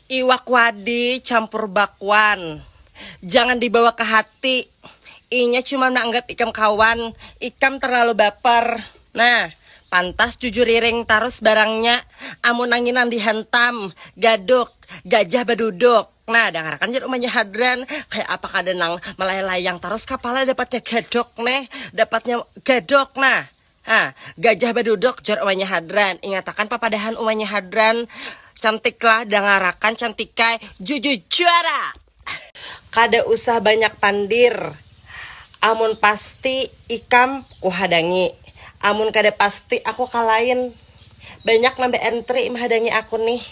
Iwak wadi campur bakwan jangan dibawa ke hati inya cuma meanggap ikam kawan ikam terlalu baper nah pantas jujuriring tarus barangnya amun nangin nang dihantam gaduk gajah baduduk nah dangarkan jar umanya hadran kaya apa kada nang melayang layang tarus kapala dapatnya gadok neh dapatnya gadok nah. Ha, Gajah baduduk, jar umanya Hadran. Ingatakan papadahan umanya Hadran, Cantiklah, dangarakan Cantikai, jujujara! Kada usah banyak pandir, amun pasti ikam kuhadangi, amun kada pasti aku kalain. Banyak nang baentri mahadangi aku nih.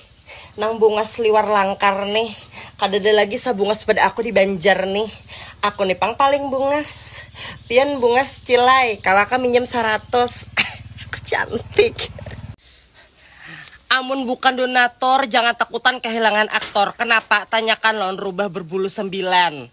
Nang bungas liwar langkar nih. Kadada lagi sabungas pada aku di Banjar nih. Aku nih pang paling bungas. Pian bungas cilai, kawa kah minjam saratus. Aku cantik. Amun bukan donatur jangan takutan kahilangan aktor. Kenapa? Tanyakan lawan rubah berbulu sembilan.